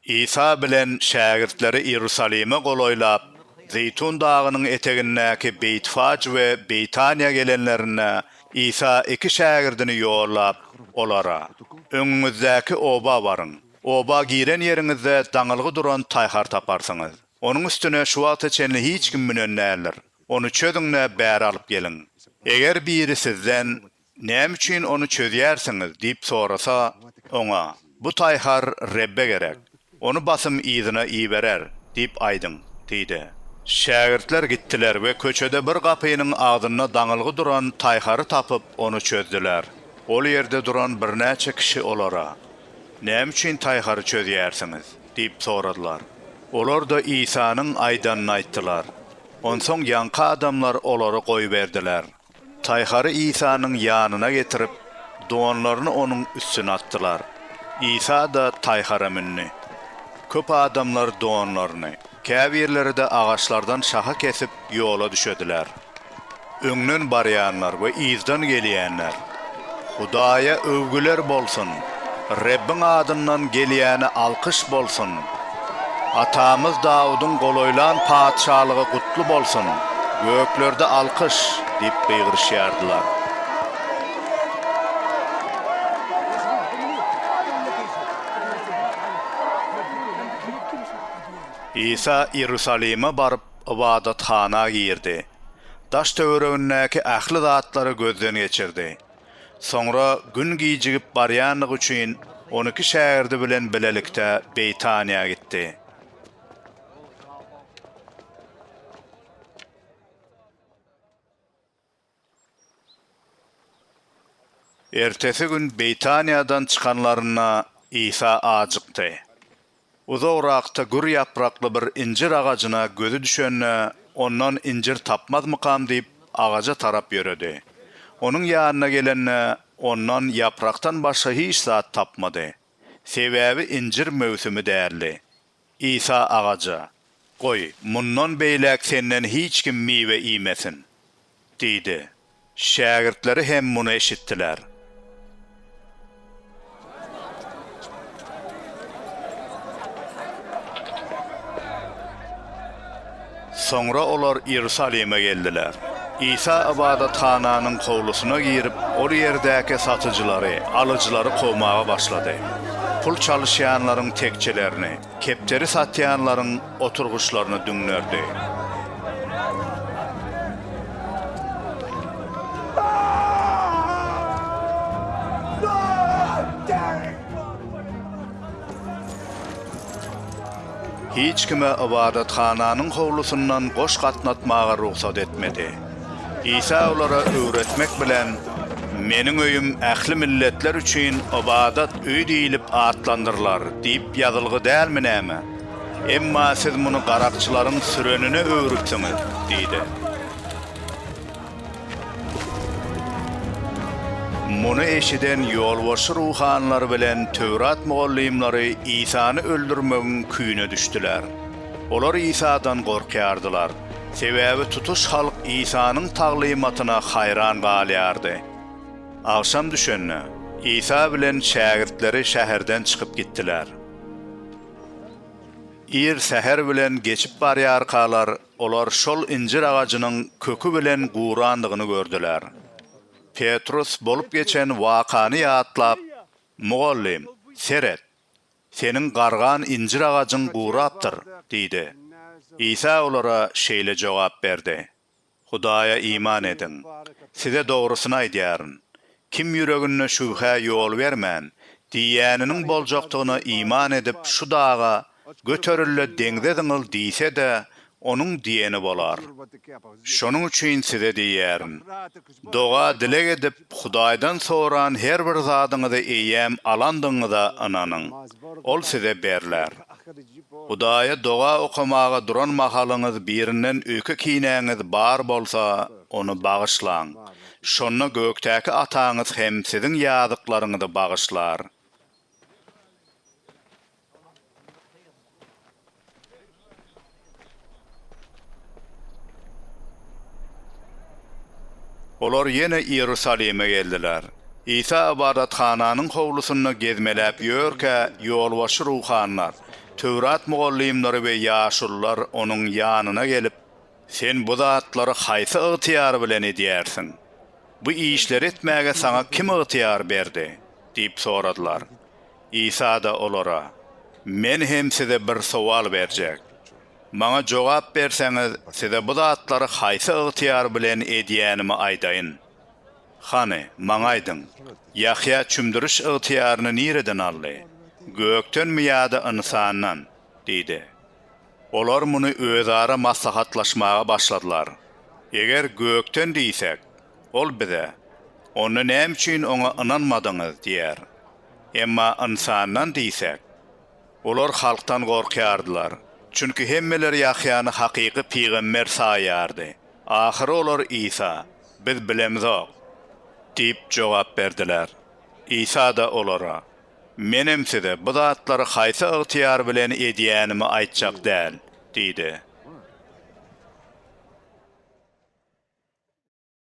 Isa bilen şägirtleri Iýerusalime golaýlap, Zeýtun dagynyň etegindäki Beýtfaj we Beýtaniýa gelenlerinde, Isa iki şägirdini ýollap, olara, Öňüňizdäki oba baryň. Oba giren ýeriňizde daňylgy duran taýhar taparsyňyz. Onuň üstüne şu wagta çenli hiç kim münen däldir. Ony çözüň-de, bäri alyp geliň. Eger biri sizden, Näme üçin ony çözýärsiňiz? diýip sorasa, oňa, Bu taýhar Rebbe gerek. Ony basym yzyna iberer diýip aýdyň diýdi. Şägirtler gitdiler we köçede bir gapynyň agzynda daňylgy duran taýhary tapyp, ony çözdüler. Ol ýerde duran birnäçe kişi olara, Näme üçin taýhary çözýärsiňiz? diýip soradylar. Olar-da Isanyň aýdanyny aýtdylar. Onsoň ýaňky adamlar olary goýberdiler. Taýhary Isanyň ýanyna getirip, donlaryny onuň üstüne atdylar. Isa-da taýhara mündi. Köp adamlar donlaryny, käbirleri-de agaçlardan şaha kesip, ýola düşediler. Öňden barýanlar we yzdan gelýänler Hudaýa öwgüler bolsun! Rebbiň adyndan gelýäne alkyş bolsun! Atamyz Dawudyň golaýlan patyşalygy gutly bolsun! Göklerde alkyş! diýip gygyryşýardylar. Isa Iýerusalime baryp, ybadathana girdi. Daş-töweregindäki ähli zatlary gözden geçirdi. Soňra gün gijigip barýandygy üçin on iki şägirdi bilen bilelikde Beýtaniýa gitdi. Ertesi gün Beýtaniýadan çykanlarynda Isa ajykdy. Uzagrakda gür ýaprakly bir injir agajyna gözi düşende, ondan injir tapmazmykam diýip, agaja tarap ýöredi. Onuň ýanyna gelende, ondan ýaprakdan başga hiç zat tapmady. Sebäbi injir möwsümi däldi. Isa agaja, Goý, mundan beýläk senden hiç kim miwe iýmesin! diýdi. Şägirtleri hem muny eşitdiler. Soňra olar Iýerusalime geldiler. Isa ybadathananyň howlusyna girip, ol ýerdäki satyjylary, alyjylary kowmaga başlady. Pul çalyşýanlaryň tekjelerini, kepderi satýanlaryň oturgyçlaryny düňderdi. Hiç kime ybadathananyň howlusyndan goş gatnatmaga rugsat etmedi. Isa olara öwretmek bilen, Meniň öýüm ähli milletler üçin ybadat öýi diýlip atlandyrylar diýip ýazylgy dälmi näme? Emma siz muny garakçylaryň sürenine öwrüpsiňiz diýdi. Muny eşiden ýolbaşçy ruhanylar bilen Töwrat mugallymlary Isany öldürmegiň küýüne düşdüler. Olar Isadan gorkýardylar, sebäbi tutuş halk Isanyň taglymatyna haýran galýardy. Agşam düşende, Isa bilen şägirtleri şäherden çykyp gitdiler. Ir säher bilen geçip barýarkalar, Olar şol injir agajynyň köki bilen gurandygyny gördüler. Petrus bolup geçen wakany ýatlap, Mugallym, seret! Seniň gargan injir agajyň gurapdyr! diýdi. Isa olara şeýle jogap berdi, Hudaýa iman ediň. Size dogrusyny aýdýaryn, Kim ýüreginde şübhä ýol bermän, diýýäniniň boljakdygyna iman edip, şu daga, Göteril-de, deňze zyňyl diýse-de, onuň diýeni bolar. Şonuň üçin size diýýärin, doga-dileg edip, Hudaýdan soran her bir zadyňyzy eýýäm alandygyňyza ynanyň, ol size berler. Hudaýa doga okamaga duran mahalyňyz birinden öýke-kinäňiz bar bolsa, ony bagyşlaň, Şonda gökdäki Ataňyz hem siziň ýazyklaryňyzy bagyşlar. Olar ýene Iýerusalime geldiler. Isa ybadathananyň howlusynda gezmeläp ýörkä, ýolbaşçy ruhanylar, Töwrat mugallymlary we ýaşulular onuň ýanyna gelip, Sen bu zatlary haýsy ygtyýar bilen edýärsiň? Bu işleri etmäge saňa kim ygtyýar berdi? diýip soradylar. Isa-da olara, Men hem size bir sowal berjek. Maňa jogap berseňiz, size bu zatlary haýsy ygtyýar bilen edýänimi aýdaýyn. Hany, maňa aýdyň, Ýahýa çümdüriş ygtyýaryny nireden aldy? Gökdenmi ýa-da ynsandan? diýdi. Olar muny özara maslahatlaşmaga başladylar. Eger gökden diýsek, Ol bize, Onda näme üçin Oňa ynanmadyňyz? diýer. Emma ynsandan diýsek? Olar halkdan gorkýardylar, çünki hemmeler Ýahýany hakyky pygamber saýýardy. Ahyry olar Isa, Biz bilemzok! diýip jogap berdiler. Isa-da olara, Menem size bu zatlary haýsy ygtyýar bilen edýänimi aýtjak däl, diýdi.